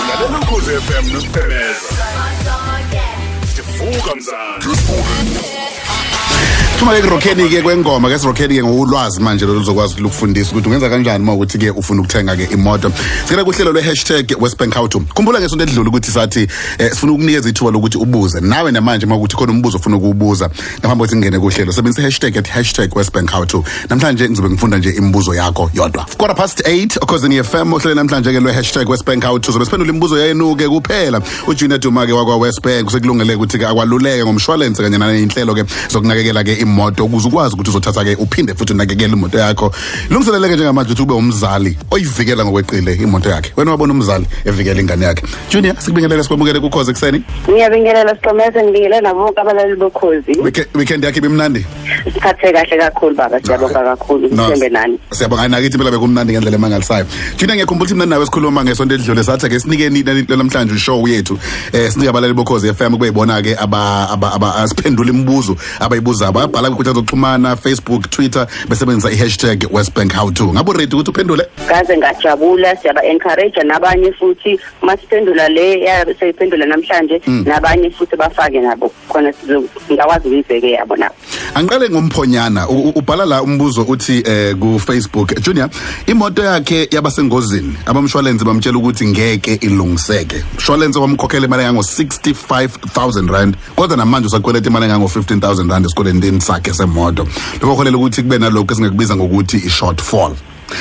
Lalela ukhozi FM noSiphemeza. Sivuka mzansi. Thuma ke rockeni ke kwengoma ke rockeni ke ngolwazi manje lo luzokwazi ukufundisa ukuthi ungenza kanjani uma ukuthi ke ufuna ukuthenga ke imoto. Sicela kuhlelo lwe hashtag Westbank How to. Khumbula ngesonto edlule ukuthi sathi eh, sifuna ukunikeza ithuba lokuthi ubuze nawe namanje uma ukuthi khona umbuzo ofuna ukubuza. ngaphambi kokuthi ngingene kuhlelo sebenzisa hashtag at hashtag westbank how to namhlanje ngizobe ngifunda nje imibuzo yakho yodwa quarter past 8 okhozini fm ohlele namhlanje ke lwe hashtag westbank how to zobe siphendula imibuzo yayenuke kuphela ujunior duma ke wakwa westbank usekulungele ukuthi ke akwaluleke ngomshwalense kanye naneyinhlelo ke zokunakekela ke imoto ukuze ukwazi ukuthi uzothatha ke uphinde futhi unakekele imoto yakho lungiseleleke njengamanje ukuthi ube umzali oyivikela ngokweqile imoto yakhe wena wabona umzali evikela ingane yakhe junior sikubingelele sikwamukele kukhoze ekuseni ngiyabingelela siqomese ngibingelela nabo bonke abalaleli bokhozi weekend yakhe ibimnandi siphathe kahle kakhulu baba siyabonga kakhulu sithembe nani siyabonga nakithi phela bekumnandi ngendlela emangalisayo junior ngiyakhumbula ukuthi mna nawe sikhuluma ngesonto elidlule sathi ke sinikeni namhlanje ushow yethu eh sinika abalaleli bokhozi FM kube yibona ke aba aba asiphendula imibuzo abayibuza bayabhala kwinkundla zokuxhumana facebook twitter besebenzisa i-hashtag westbank how to ngabo ready ukuthi uphendule ngaze ngajabula siyaba encourage nabanye futhi masiphendula le seyiphendula namhlanje mm. nabanye futhi bafake nabo khona ngakwazi ukuyibheke yabo nabo angiqale ngomphonyana ubhala la umbuzo uthi eh ku Facebook Junior imoto yakhe yabasengozini abamshwalense bamtshela ukuthi ngeke ilungiseke umshwalense wamkhokhela imali engango 65000 rand kodwa namanje usakweleta imali engango 15000 rand esikoleni sakhe semoto lokho holela ukuthi kube nalokho esingakubiza ngokuthi i shortfall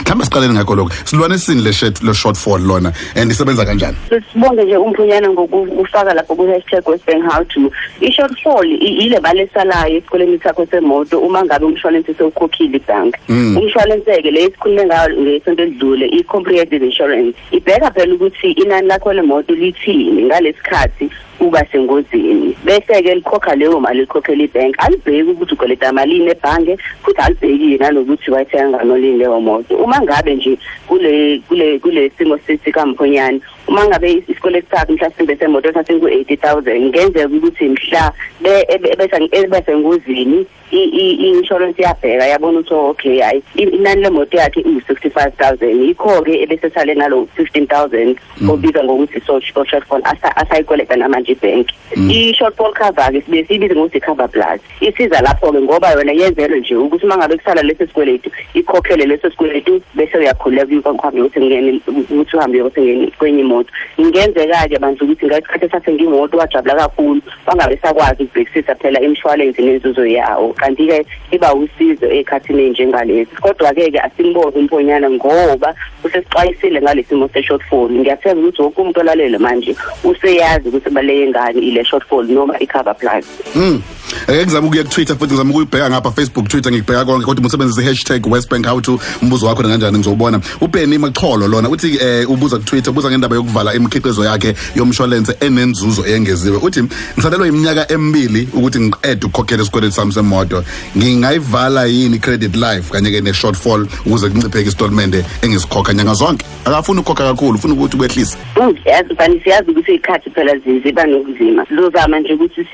mhlawumbe siqaleni ngakho lokho silwane esini le shirt le short fall lona and isebenza kanjani sibonge nje umphunyana ngokufaka lapho ku hashtag westbank how to i short fall ile mali esalayo esikoleni sakho semoto uma ngabe umshwalense sewukhokhile ibhanka mm. umshwalense ke le esikhulume ngayo ngesonto elidlule i comprehensive insurance ibheka phela ukuthi inani lakho lemoto lithini ngalesikhathi uba sengozini bese-ke likhokha leyo mali likhokhela ibhenki alibheki ukuthi ukweleta malini ebhange futhi alibhekile nanokuthi wayithenga kanolini leyo moto uma ngabe nje kule kule kule simo sikamphonyane uma ngabe isikweletu sakhe mhlasimbe semoto sasingu-eighty thousand ngenzeka ukuthi mhla bese engozini i-insurance iyabheka yabona ukuthi oh, okay hayi inani lemoto yakhe iwu-sixty five thousand yikho-ke ebesesale nalo fifteen thousand mm. obizwa ngokuthi shortfall asayikweleta namanje ibhenki mm. i-shortfall cover-ke sibe siyibize ngokuthi cover plus isiza lapho-ke ngoba yona yenzelwe nje ukuthi uma ngabe kusala leso sikweletu ikhokhele leso sikweletu bese uyakhululeka kuyukuhambe ukuthi ngingene ukuthi uhambe ukuthi ngene kwenye imoto ngenzeka-ke bandla ukuthi ngesikhathi esase ngimoto wajabula kakhulu bangabe sakwazi ukubhekisisa phela imshwalense nenzuzo yawo kanti-ke iba usizo ey'khathini ey'njengalezi kodwa-ke ke asimboni umponyana ngoba usesixwayisile ngalesimo se-shortfall ngiyathemba ukuthi wonke umuntu olalele manje useyazi ukuthi baleke ngani ile shortfall noma i-cover plus mm. ake ngizama ukuya kutwitter futhi ngizama ukuyibheka ngapha facebook twitter ngikubheka konke kodwa musebenzise i-hashtag westbank how to umbuzo wakho nanganjani ngizowubona uBenny Maxholo lona uthi eh ubuza ku Twitter ubuza ngendaba yokuvala imikhiqizo yakhe yomshwalense enenzuzo eyengeziwe uthi ngisalelwa iminyaka emibili ukuthi ngiqede ukukhokhela isikweletu sami semoto ngingayivala yini credit life kanye ke ne shortfall ukuze kuncipheke istatement engisikhokha nyanga zonke akafuni ukukhokha kakhulu ufuna ukuthi kwehlise yazi bani siyazi ukuthi ikhathi phela ziba nokuzima sizozama nje ukuthi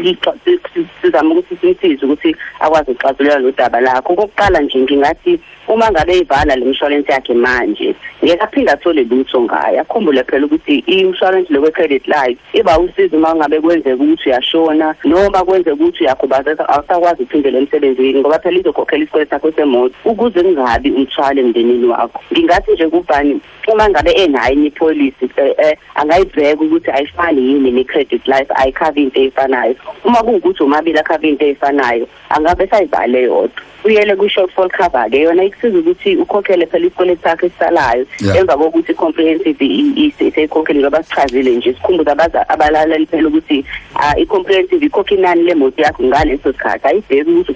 sizame ukuthi simsize ukuthi akwazi ukuxazulula lo daba lakho okokuqala nje ngingathi uma ngabe eyivala le mshwalense yakhe manje ngeke aphinde athole lutho ngayo akhumbule phela ukuthi i-insurance lokwe-credit life iba usizo uma ngabe kwenzeka ukuthi uyashona noma kwenzeka ukuthi uyakhubazeka awusakwazi ukuphindela emsebenzini ngoba phela izokhokhela isikweletu sakho semoto ukuze kungabi umthwalo emndenini wakho ngingathi nje kubhani uma ngabe enayo enye ipolisi eh, eh, angayibheka ukuthi ayifani yini ne-credit life ayikhavi into eyifanayo uma kuwukuthi omabili akhava into eyifanayo angabe esayibhale yodwa uyele kwi-shortfall cover ke yona ikusiza ukuthi ukhokhele phela isikweletu sakho esisalayo emva kokuthi i-comprehensive seyikhokhele ngoba sichazile nje sikhumbuza abalaleli phela ukuthi ah, i-comprehensive ikhokha inani lemoto yakho ngaleso sikhathi ayibheki ukuthi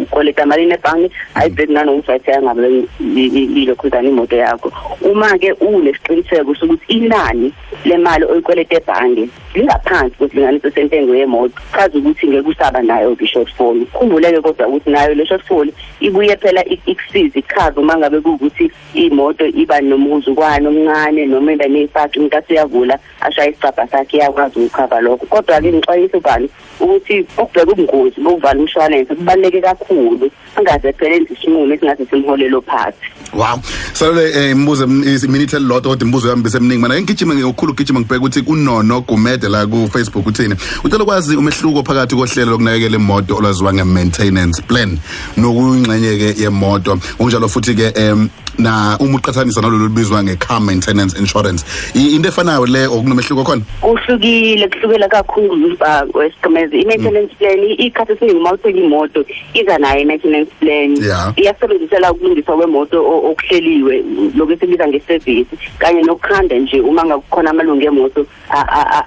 ukoleta malini ebhange ayibheki nanokuthi wayithenga ngabe ilokhuzana imoto yakho uma-ke unesiqiniseko sokuthi inani le mali oyikweleta ebhange lingaphansi kwesilinganiso sentengo yemoto chaza ukuthi ngeke usaba nayo i-shortfall khumbuleke kodwa ukuthi nayo le shortfall ibuye phela ikusiza ichaza uma ngabe kuwukuthi imoto iba nomuzukwane omncane noma iba neyipaki umuntu aseyavula ashaye isicabha sakhe iyakwazi ukukhava lokho kodwa-ke ngixwayisa ubani ukuthi ukubheka ubungozi bokuvala umshwalense kubaluleke kakhulu angaze phela enze isinqumo esingathi simholele ophathi wow salole eh, imibuzo iminithe lodwa kodwa imibuzo yami beseminingi mina ngigijima ngokukhulu gijima ngibheka ukuthi kunono gumede la ku Facebook uthini ucela kwazi umehluko phakathi kohlelo lokunakekela imoto olwaziwa nge maintenance plan nokuyingxenye-ke yemoto ngokunjalo futhi-ke um na uma uqhathanisa nalolu olubizwa nge-car maintenance insurance I- into efanayo le or kunomehluko khona kuhlukile kuhlukela kakhulu uba wesiqimezi i-maintenance plan i- ikhathi esiningi uma uthenga imoto iza nayo i-maintenance plan Yeah. iyasebenzisela ukulungiswa kwemoto o- okuhleliwe lokhu esibiza ngesevisi kanye nokukhanda nje uma ngakukhona amalungu emoto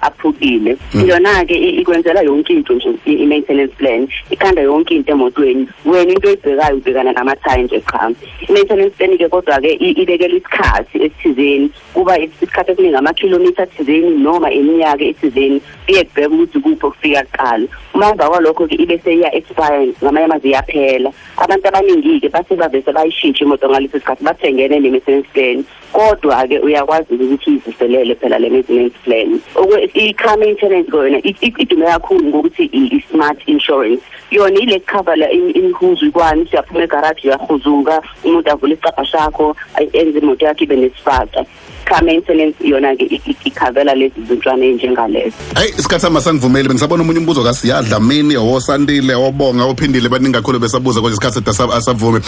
aphukile mm. yona-ke ikwenzela yonke into nje i-maintenance plan ikhanda yonke into emotweni wena into oyibhekayo ubhekana namathayi nje qha i-maintenance plan-ke kodwa-ke ibekela isikhathi esithizeni kuba isikhathi esiningi amakhilomitha athizeni noma iminyaka ethizeni kuye kubheka ukuthi kuphi okufika kuqala uma emva kwalokho-ke ibe seyiya-expire ngamanye amazi iyaphela abantu abaningi-ke bathi bavese bayishintshe imoto ngaleso sikhathi bathengene ne-maintenance plan kodwa-ke uyakwazi ukuthi uyivuselele phela le maintenance plan i-car maintenance kona idume kakhulu ngokuthi i-smart insurance yona ile kukhavala imihuzu ikwani siyaphuma egaraji uyahuzuka umuntu avule isicabha sakho enze imoto yakhe ibe nesifaka car maintenance yona-ke ikhavela lezi zintshwane ey'njengalezo Hey isikhathi sama sangivumeli bengisabona umunye umbuzo kaSiya Dlamini owosandile obonga ophindile baningi kakhulu besabuza konje isikhathi sethu asavume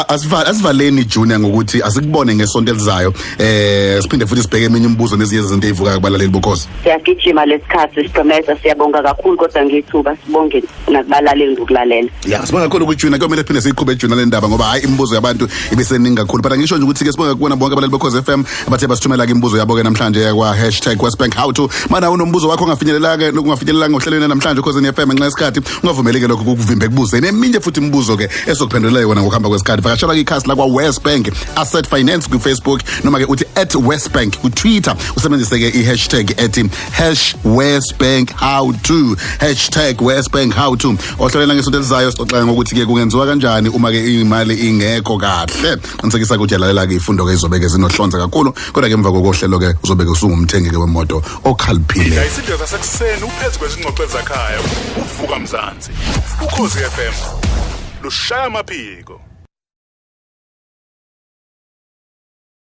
asivala asivaleni junior ngokuthi asikubone ngesonto elizayo eh siphinde futhi sibheke eminye imibuzo nezinye izinto ezivuka kubalaleli bukhosi Siyagijima lesikhathi siqhemeza siyabonga kakhulu kodwa ngithuba sibongeni nakubalaleli ngokulalela ya sibonga kakhulu kujuna kuyomele phinde siyiqhube ejuna le ndaba ngoba hayi imibuzo yabantu ibeseningi kakhulu but angisho nje ukuthi-ke sibonga kubona bonke abalali bekhoze f m abathe basithumela-ke imibuzo yabo-ke namhlanje yakwa hashtag westbank how to mana unombuzo wakho ongafinyelelake nokungafinyelelanga ohlelweni namhlanje ekhozeni f m ngenxa yesikhathi ungavumeleke lokho kukuvimba ekubuzeni eminye futhi imibuzo-ke esokuphendulela yona ngokuhamba kwesikhathi vakashela kwikhasi lakwa westbank asset finance kwifacebook noma-ke uthi at westbank kwitwitter usebenzise-ke i-hashtag ethi hash westbank how to hashtag westbank how to ohlelweni langesonto elizayo sixoxela ngokuthi ke kungenziwa kanjani uma ke imali ingekho kahle qinisekisa ukuthi yalalela ke ifundo ke izobe ke zinohlonza kakhulu kodwa ke emva kokohlelo ke uzobe ke usungumthengi ke wemoto okhaliphile isidlo sasekuseni uphezu kwezingxoxo ezakhaya uvuka mzansi ukhozi FM lushaya amaphiko